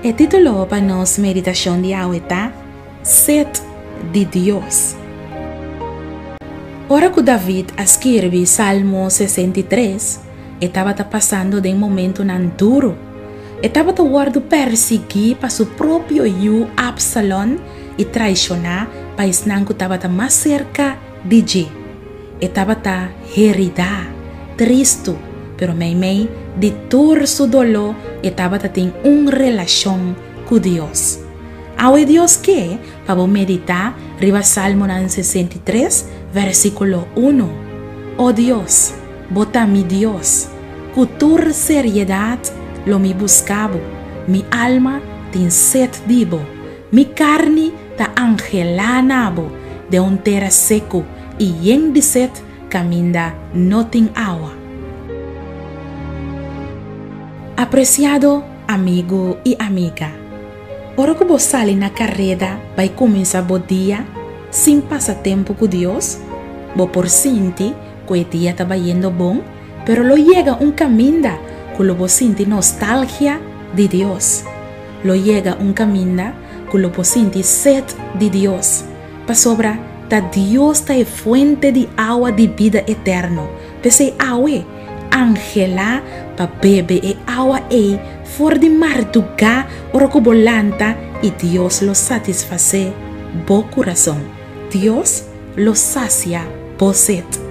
E título pa nos meditashon di awe ta Set di Dios. Ora ku David a skirbi Salmo sesenta i tres, e tabata pasando den momentunan duru. E tabata wòrdu pèrsiguí pa su propio yu Absalon i traishoná pa esnan ku tabata mas serka Di dje, e tabata heridá, tristu, pero meimei di tur su doló e tabata tin un relashon ku Dios. Awe Dios ke pa bo meditá riba Salmonan sesenta i tres, vèrsikulo unu, O Dios, bo ta mi Dios, ku tur seriedat lo mi buska bo, mi alma tin set di bo, Mi karni ta angelá na bo den un tera seku i yen di set kaminda no tin awa. Apresiado amigu i amiga, ora ku bo sali na kareda bai kuminsá bo dia sin pasa tempu ku Dios, bo por sinti ku e dia ta bai yendo bon, pero lo yega un kaminda ku lo bo sinti nostalgia di Dios. lo yega un kaminda ku lo por sinti set di Dios, pasobra ta Dios ta e fuente di awa di bida eterno. P'esei awe, anhela pa bebe e awa ei for di mardugá ora ku bo lanta i Dios lo satisfasé bo kurason. Dios lo sasia bo set.